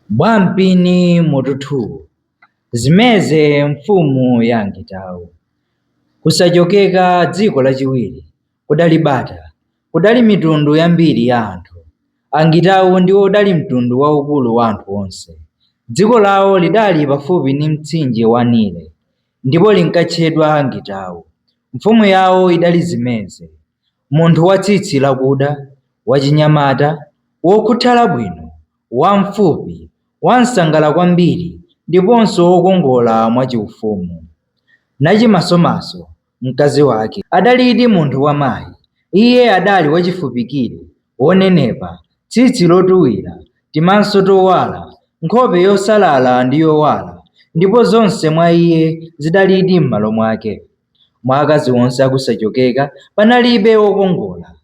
Bwampini mutu 2 Zimeze mfumu ya Angitau Kusachokeka dziko lachiwiri kudali bata, kudali mitundu yambiri ya anthu. Angitau ndiwo udali mtundu waukulu wa anthu onse. Dziko lawo lidali pafupi ndi mtsinje wa Nile, ndipo linkatchedwa Angitau. Mfumu yawo idali Zimeze. munthu wa tsitsi lakuda, wachinyamata, wokhuthala bwino, wamfupi, wamsangala kwambiri ndiponso wokongola mwachiufumu. Nachimasomaso, mkazi wake, adalidi munthu wamayi. Iye adali wachifupikire, wonenepa, tsitsi lotuwira, timaso towala, nkhope yosalala ndi yowala, ndipo zonse mwa iye zidalidi m'malo mwake. Mwa akazi onse akusachokeka panalibe wokongola.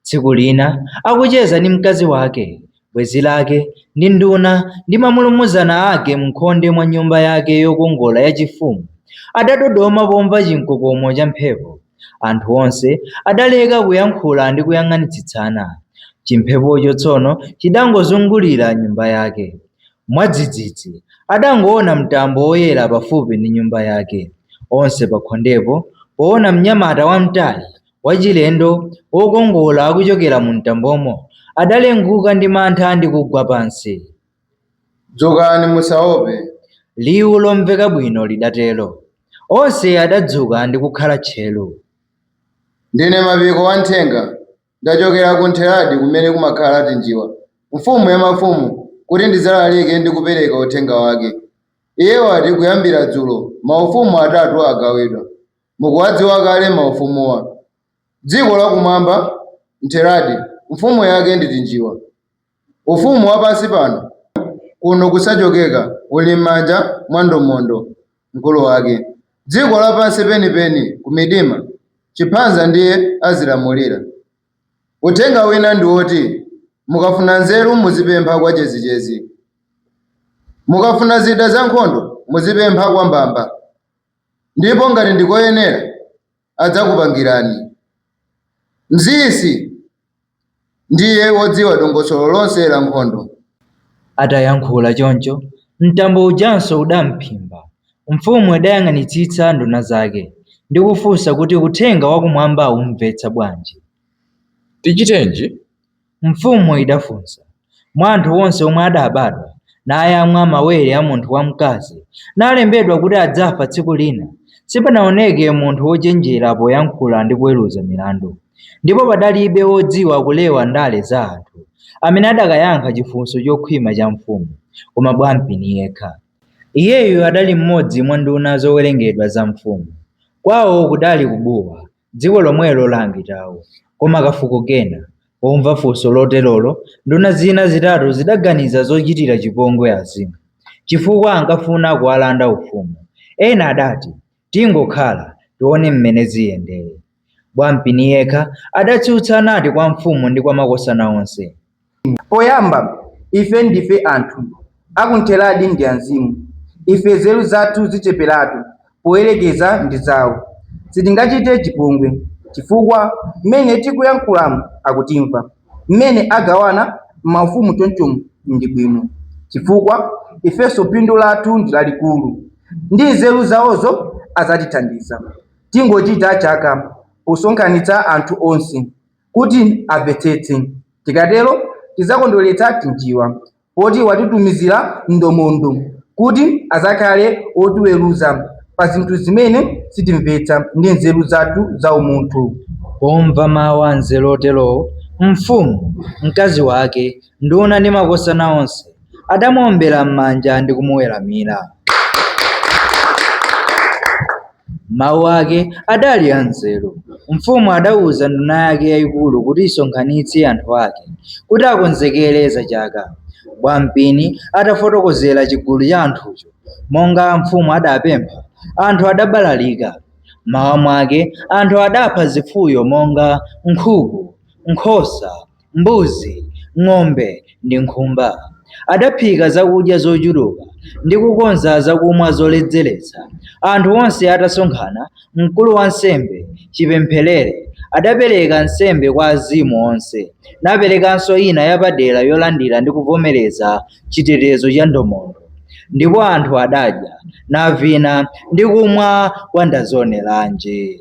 Tsiku lina akucheza ndi mkazi wake, bwenzi lake, ndi nduna ndi mamulumuzana ake m'khonde mwa nyumba yake yokongola yachifumu, adadodoma pomva chimkokomo cha mphepo. Anthu onse adaleka kuyankhula ndi kuyang'anitsitsana. Chimphepocho tsono chidangozungulira nyumba yake. Mwadzidzidzi, adangoona mtambo woyera pafupi ndi nyumba yake. Onse pakhondepo, poona mnyamata wamtali, wachilendo, wokongola akuchokera mumtambomo, adalenguka ndi mantha ndi kugwa pansi. Dzukani, musaope! liwu lomveka bwino lidatero. Onse adadzuka ndi kukhala tcheru. Ndine Mapiko, wamthenga. Ndachokera ku Ntheradi kumene kumakhala Tinjiwa, mfumu ya mafumu, kuti ndidzalalike ndi kupereka uthenga wake. Iye wati kuyambira dzulo, maufumu atatu agawidwa. Mukuwadziwa kale maufumuwa. Dziko lakumwamba, Ntheradi, mfumu yake ndi Tinjiwa. Ufumu wa pansi pano kuno Kusachokeka uli m'manja mwa Ndomondo, mkulu wake. Dziko la pansi penipeni ku Midima, Chiphanza ndiye azilamulira. Uthenga wina ndi woti mukafuna nzeru muzipempha kwa Chezichezi. Mukafuna zida za nkhondo muzipempha kwa Mbamba ndipo ngati ndi koyenera, adzakupangirani. Mziisi ndiye wodziwa dongosolo lonse la nkhondo. Atayankhula choncho, mtambo ujanso udam'phimba. Mfumu idayang'anitsitsa nduna zake ndi kufunsa kuti uthenga wakumwamba aumvetsa bwanji. Tichitenji? Mfumu idafunsa, Mwa anthu onse omwe adabadwa, nayamwa mawere a munthu wamkazi, nalembedwa kuti adzafa tsiku lina, sipanaoneke munthu wochenjera poyankhula ndi kuweruza milandu, ndipo padalibe wodziwa kulewa ndale za anthu amene adakayankha chifunso chokhwima cha mfumu, koma Bwampini yekha. Iyeyu adali mmodzi mwa nduna zowerengedwa za mfumu. Kwawo kudali ku Buwa, Dziko lomwelo la angitawo. Koma kafuko kena, pomva funso loterolo, nduna zina zitatu zidaganiza zochitira chipongwe Azimu, chifukwa ankafuna kuwalanda ufumu. Ena adati, Tingokhala, tione m'mene ziyendere. Bwampini yekha adatsutsa nati kwa mfumu ndi kwa makosana onse. Poyamba, ife ndife anthu akuntheradi ndi azimu. Ife nzeru zathu zicheperatu poyerekeza ndi zawo. Sitingachite chipongwe, chifukwa mmene tikuyankhulamu akutimva. Mmene agawana maufumu chonchomu ndi bwino, chifukwa ifenso phindu lathu ndi lalikulu. Ndi nzeru zawozo adzatithandiza. Tingochita chaka posonkhanitsa anthu onse. kuti amvetsetse. Tikatero tidzakondweretsa Tinjiwa poti watitumizira Ndomondo kuti adzakhale otiweruza pa zinthu zimene sitimvetsa ndi nzeru zathu zaumunthu. Pomva mawu anzeru oterowo, mfumu, mkazi wake, nduna ndi makosana onse adamuombera m'manja ndi kumuweramira. Mawu ake adali anzeru. Mfumu adauza nduna yake yayikulu kuti isonkhanitse anthu ake kuti akonzekere za chaka. Bwampini atafotokozera chigulu cha anthucho monga mfumu adapempha, anthu adabalalika. M'mawa mwake anthu adapha zifuyo monga nkhuku, nkhosa. mbuzi, ng'ombe ndi nkhumba. Adaphika zakudya zochuluka ndi kukonza zakumwa zoledzeretsa. Anthu onse atasonkhana, mkulu wansembe, Chipempherere, adapereka nsembe kwa azimu onse, naperekanso ina yapadera yolandira ndi kuvomereza chitetezo cha Ndomondo. Ndipo anthu adadya, navina ndi kumwa kwa ndazioneranje.